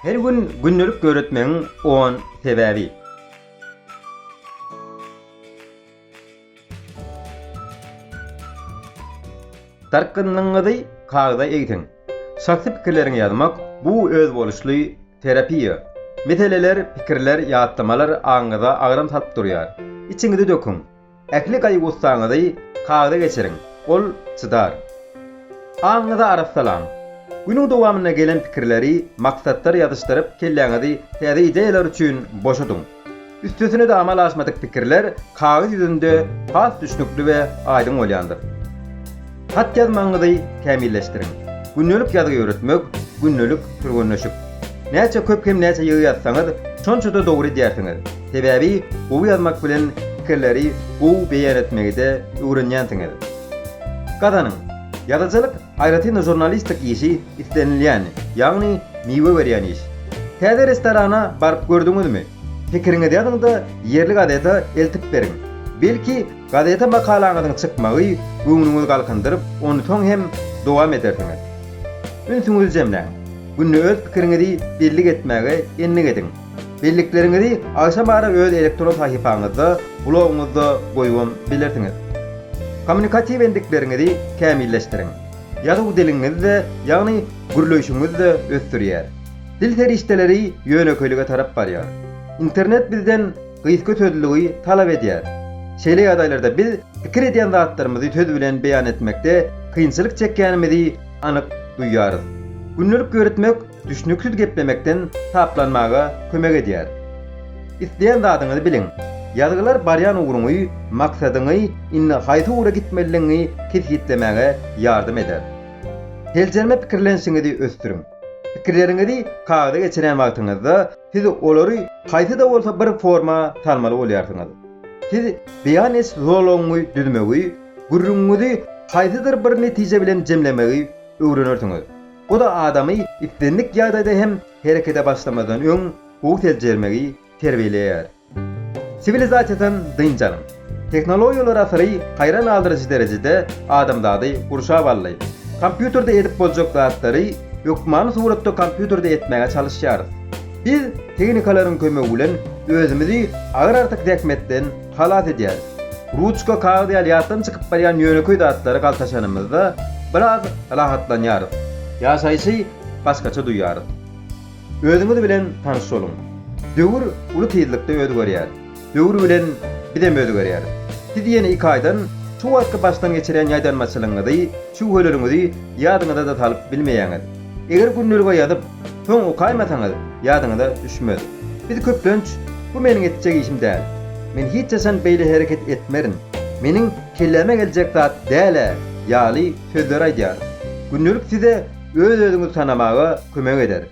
Her gün gündelik döretmegiň on sebäbi. Dartgynlygyňyzy kagyza egsiň. Şahsy pikirleriňi ýazmak, bu özboluşly terapiýa. Meseleler, pikirler, ýatlamalar aňyňyza agram salyp durýar. Içiňizi döküň. Ähli gaýgy-gussaňyzy kagyza geçiriň, ol çydar. Aňyňyzy arassalaň. Günüň dowamynda gelen pikirleri maksatlara ýazyşdyryp, kelläňizi täze ideýalar üçin boşadyň. Üstesine-de amala aşmadyk pikirler kagyz ýüzünde has düşnükli we aýdyň bolýandyr. Hat ýazmagyňyzy kämilleşdiriň. Gündelik ýazgy ýöretmek, gündelik türgenleşik. Näçe köp hem näçe ýygy ýazsaňyz, şonça-da dogry edýärsiňiz. Sebäbi gowy ýazmak bilen pikirleri gowy beýan etmegi-de öwrenýänsiňiz. Gazanyň! Ýazyjylyk, aýratyn-da žurnalistik işi islenilýän, ýagny miwe berýän iş. Täze restorana baryp gördüňizmi? Pikiriňizi ýazyň-da, ýerli gazete eltip beriň. Belki, Gazete makalaňyzyň çykmagy göwnüňizi galkyndyryp, ony soň hem dowam edersiňiz. Ünsüňizi jemläň. Günde öz pikiriňizi bellik etmäge endik ediň. Bellikleriňizi agşam ara öz elektron sahypaňyzda, blogyňyzda goýubam bilersiňiz. Kommunikatiw endikleriňizi kämilleşdiriň. Ýazuw diliňizi-de, ýagny gürleýşiňizi-de ösdürýär. Dil serişdeleri ýönekeýlige tarap barýar. Internet bizden. gysgöteriligi talap edýär. Şeýle ýagdaýlarda biz pikir edýän zatlarymyzy söz bilen beýan etmekde kynçylyk çekýänimizi anyk duýýarys. Gündelik ýöretmek düşnüksiz geplemekden saplanmaga kömek edýär. Isleýän zadyňyzy biliň. Ýazgylar barýan ugruňy, maksadyňy, indi haýsy ugra gitmelidigiňi kesgitlemäge ýardam eder. Seljerme pikirlenişiňizi ösdüriň. Pikirleriňizi kagyza geçirýän wagtyňyzda, siz olary haýsy-da bolsa bir forma salmaly bolýarsyňyz. Siz beýan ediş zolagyňy düzmegi, gürrüňiňizi haýsydyr bir netije bilen jemlemegi öwrenersiňiz. Bu-da adamy islendik ýagdaýda hem herekete başlamazdan öň gowy seljermegi terbiýeleýär. Siwilizasiýadan dynç alyň. Tehnologiýalar asyry haýran galdyryjy derejede adamzady gurşap aldy. Kompýuterde edip boljak zatlary hökmany suratda kompýuterde etmäge çalyşýarys. Biz tehnikalaryň kömegi bilen özümizi agyr-artyk zähmetden halas edýäris. Ruçka, kagyz ýaly ýatdan çykyp barýan ýönekeý zatlary galtaşanymyzda biraz rahatlanýarys. Ýaşaýşy başgaça duýýarys. Özüňiz bilen tanyş boluň. Döwür uly tizlikde özgerýär. Döwür bilen bizem özgerýäris. Siz ýene iki aýdan şu wagtky başdan geçirýän ýaýdanmaçylygyňyzy, şüwheleriňizi ýadyňyza-da salyp bilmeýäňiz. Eger gündelige ýazyp, soň okaýmasaňyz, ýadyňyza düşmez. Biz köplenç, Bu meniň etjek işim däl. Men hiç haçan beýle hereket etmerin. Meniň kelläme geljek zat däl-ä ýaly sözleri aýdýarys. Gündelik size öz-özüňizi tanamaga kömek eder.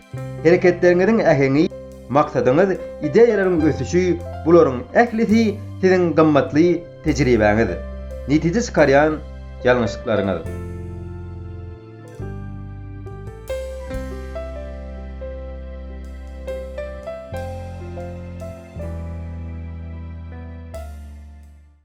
Hereketleriňiziň äheňi, maksadyňyz, ideýalaryň ösüşi, bularyň ählisi siziň gymmatly tejribäňiz, netije çykarýan ýalňyşyklaryňyz.